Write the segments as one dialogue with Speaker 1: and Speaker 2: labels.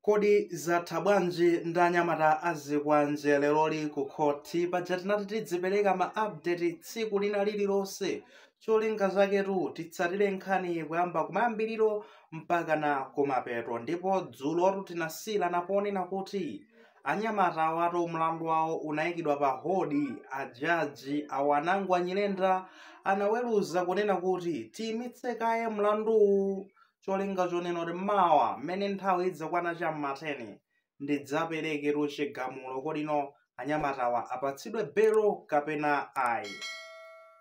Speaker 1: Kodi zatha bwanji ndi anyamata a zikwanje leroli ku khothi? Paja tinati tidzipereka ma update tsiku lina lililonse. Cholinga chaketu titsatire nkhaniyi kuyamba kumayambiriro mpakana kumapeto. Ndipo dzulotu tinasiyirana ponena kuti anyamata awatu mlandu wawo unaikidwa pa hold. Ajaji a Wanangwa Nyirenda anaweruza kunena kuti tiimitse kaye mlanduwu cholinga chonena kuti mawa mmene nthawi idzakwana cha m'mateni ndidzapereketu chigamulo kodi no anyamatawa apatsidwe belo kapena ayi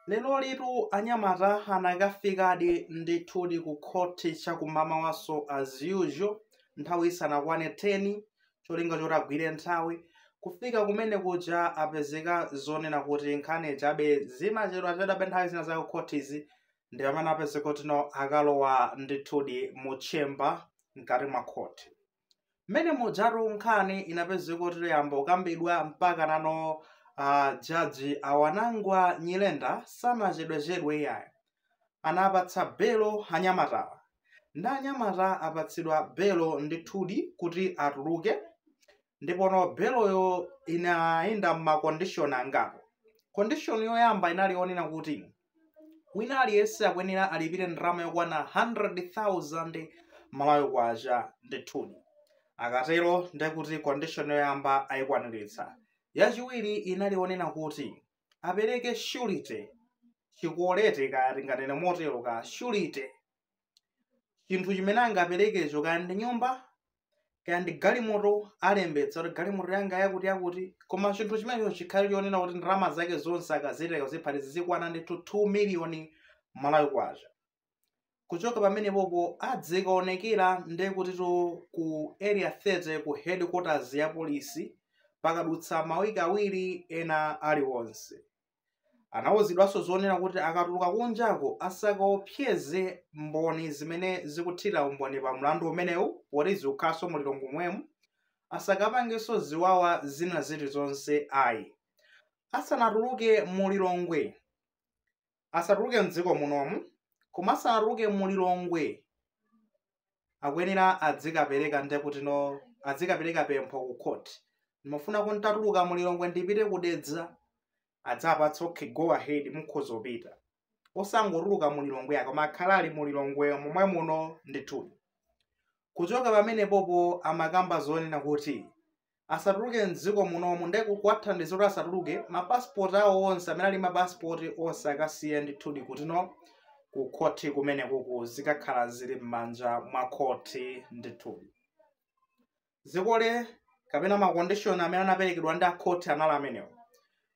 Speaker 1: lerolitu anyamata anakafikadi ndithudi ku khoti chakum'mamawanso as usual nthawi isanakwane 10 cholinga choti agwire nthawi kufika kumene kuja apezeka zonena kuti nkhani chabe zimachedwachedwabe nthawi zina za kukhotizi ndi pamene apezeka kuti no akalowa ndithudi mu chamber mkati mwa khoti mmene mujatu nkhani inapezeka kuti yayamba kukambidwa mpaka nano uh, jaji a Wanangwa Nyirenda sanachedwechedwe iyayi anapatsa belo anyamatawa ndi anyamata apatsidwa belo ndithudi kuti atuluke ndipono beloyo inayenda m'makondishoni angapo kondishoni yoyamba inali yonena kuti wina aliyense akuyenera alipire ndalama yokwana 100,000 malawi kwacha ndithudi akatero ndekuti condition yoyamba ayikwaniritsa yachiwiri inali yonena kuti apereke surety chikole eti kaya tinganene motero ka surety chinthu chimene angaperekecho kaya ndi nyumba kaya ndi galimoto alembetsa kuti galimoto yanga yakuti yakuti koma chinthu chimenecho chikhale chonena kuti ndalama zake zonse akazitenga kuziphatikiza zizikwana ndithu 2 miliyoni malawi kwacha kuchoka pamenepopo azikaonekera ndiye kutitu ku area 30 ku headquarters ya polisi pakadutsa mawiki awiri ena aliwonse Anauzidwanso zonena kuti akatuluka kunjako asakaopseze Mboni zimene zikuthira umboni pa mlandu umenewu poti zikukhalanso mu Lilongwe momwemu, asakapangenso ziwawa zina zilizonse ayi. Asanatuluke mu Lilongwe, asatuluke m'dziko munomu, koma asanatuluke mu Lilongwe akuyenera adzikapereka nde kuti no adzikapereka pempho ku court ndimafuna nditatuluka mu lilongwe ndipite ku dedza adzapatsa okay go ahead mukhoza kupita osangotuluka mu lilongwe ayi koma akhala ali mu lilongwe momwe muno ndithudi kuchoka pamenepopo amakamba zonena kuti asatuluke mdziko munomu nde kuwathandiza kuti asatuluke ma passport awo onse amene ali ma passport onse akasiye ndithudi kuti no ku khoti kumene kuku zikakhala zili m'manja mwa khoti ndithudi zikole kapena ma condition amene anaperekedwa ndi akhoti anali amenewo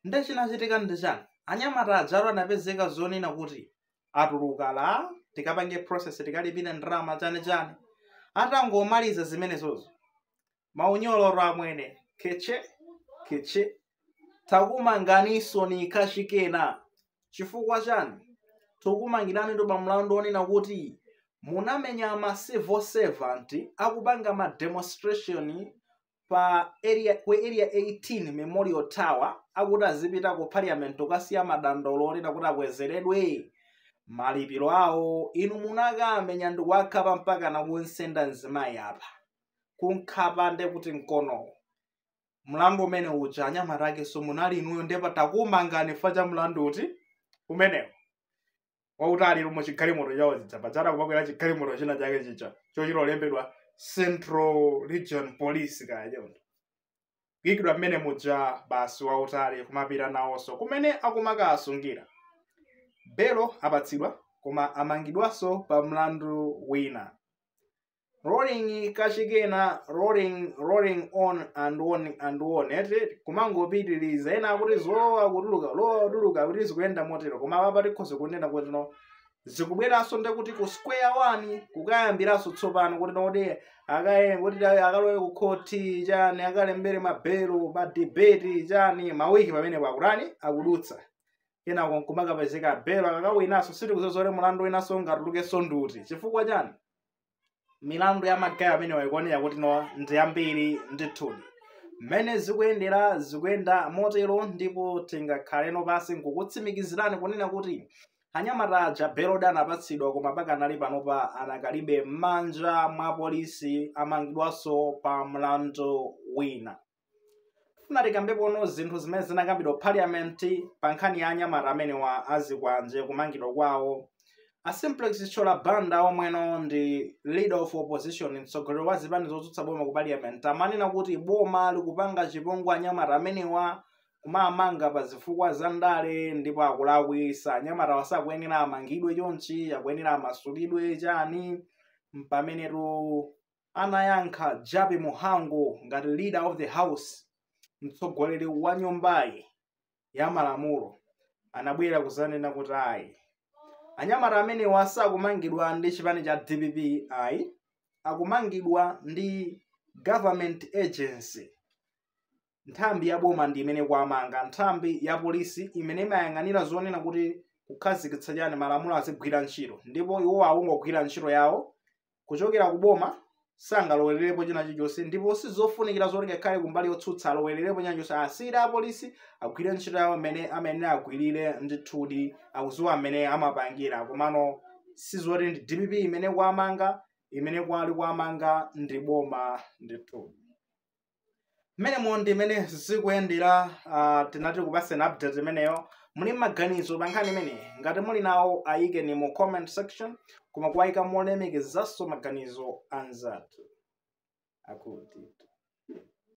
Speaker 1: nde chinachitika ndi chani anyamata ajatu anapezeka zonena kuti atuluka lah tikapange process tikalipire ndalama chani chani atangomaliza zimenezozo maunyolo amwene keche keche takumanganiso ni kachikena chifukwa chani tukumangirani ndo pa mlandu onena kuti munamenya ma civil servant akupanga ma demonstration pa area ku area 18 memorial tower akuti azipita ku parliament kukasiya madandaulo onena kuti akwezeredwe malipiro awo inu munakawamenya ndikuwakhapa mpaka nakunsenda mzimayi apa kunkhapa nde kuti mkonowo mlandu umene uja anyamata akenso munali inuyo nde pa takumangani fa cha mlandu uti umenewo wautali mu chigalimoto chawo chija pachata kumakwera chigalimoto china chake chija cholembedwa central region police kaya choncho kuyikidwa mmene muja basi wautali kumapita nawonso kumene akumakasungira belo apatsidwa koma amangidwanso pa mlandu wina rolling kachikena rolling rolling on and on and on eti kumangopitiriza ena akuti zolowa kutuluka lowa kutuluka kuti zikuyenda motero koma papa tikhoza kunena kuti no zikubweranso nde kuti ku square one kukayambiranso tsopano kuti noti akaye kuti ta- akalowe ku khoti chani akalembere mabelo ma debate chani mawiki pamene pakutani akudutsa kenako nkumakapezeka belo akakawinanso sitikudziwa zoti mulandu winanso ungatulukenso nduti chifukwa chani milandu ya magaye amenewa ikuonera kuti no ndi yambiri ndithudi mmene zikuyendera zikuyenda motero ndipo tingakhaleno pansi nkukutsimikizirani kunena kuti anyamata aja belodi anapatsidwa koma pakanali panopa anakalibe m'manja mwa polisi amangidwanso pa mlandu wina Tifuna tikambepono zinthu zimene zinakambidwa ku parliament pa nkhani ya anyamata amenewa azikwanje kumangidwa kwawo. A Simplex Chithyola Banda omweno ndi leader of opposition mtsogoleri wa zipani zotsutsa boma ku parliament amanena kuti boma likupanga chipongwe anyamata amenewa kuwamanga pa zifukwa za ndale ndipo akulakwisa anyamatawa sakuyenera amangidwe chonchi akuyenera amasulidwe chani mpamenetu anayankha Jappie Muhango ngati Leader of the House, mtsogoleri wa nyumbayi ya malamulo, anabwera kuzanena kuti ayi, anyamata amenewa sakumangidwa ndi chipani cha dpp ayi, akumangidwa ndi Government Agency. nthambi ya boma ndi imene ikuwamanga nthambi ya polisi imene imayang'anira zonena kuti kukhazikitsa chani malamulo azigwira ntchito ndipo iwo akungogwira ntchito yawo kuchokera ku boma sangalowererepo china chilichonse ndipo sizofunikira zoti ngakhale kumbali yotsutsa alowererepo china chilichonse asiyire apolisi agwire ntchito yawo mmene amene agwirire ndithudi akudziwa mmene amapangira komano sizoti ndi dpp imene ikuwamanga imene kwali ikuwamanga ndi boma ndithudi mmenemo ndi mmene zikuyendera uh, tinati tikupatseni update imeneyo muli maganizo pa nkhani imeneyi ngati muli nawo ayikeni mu comment section koma kuwayika molemekezanso maganizo a anzathu akuti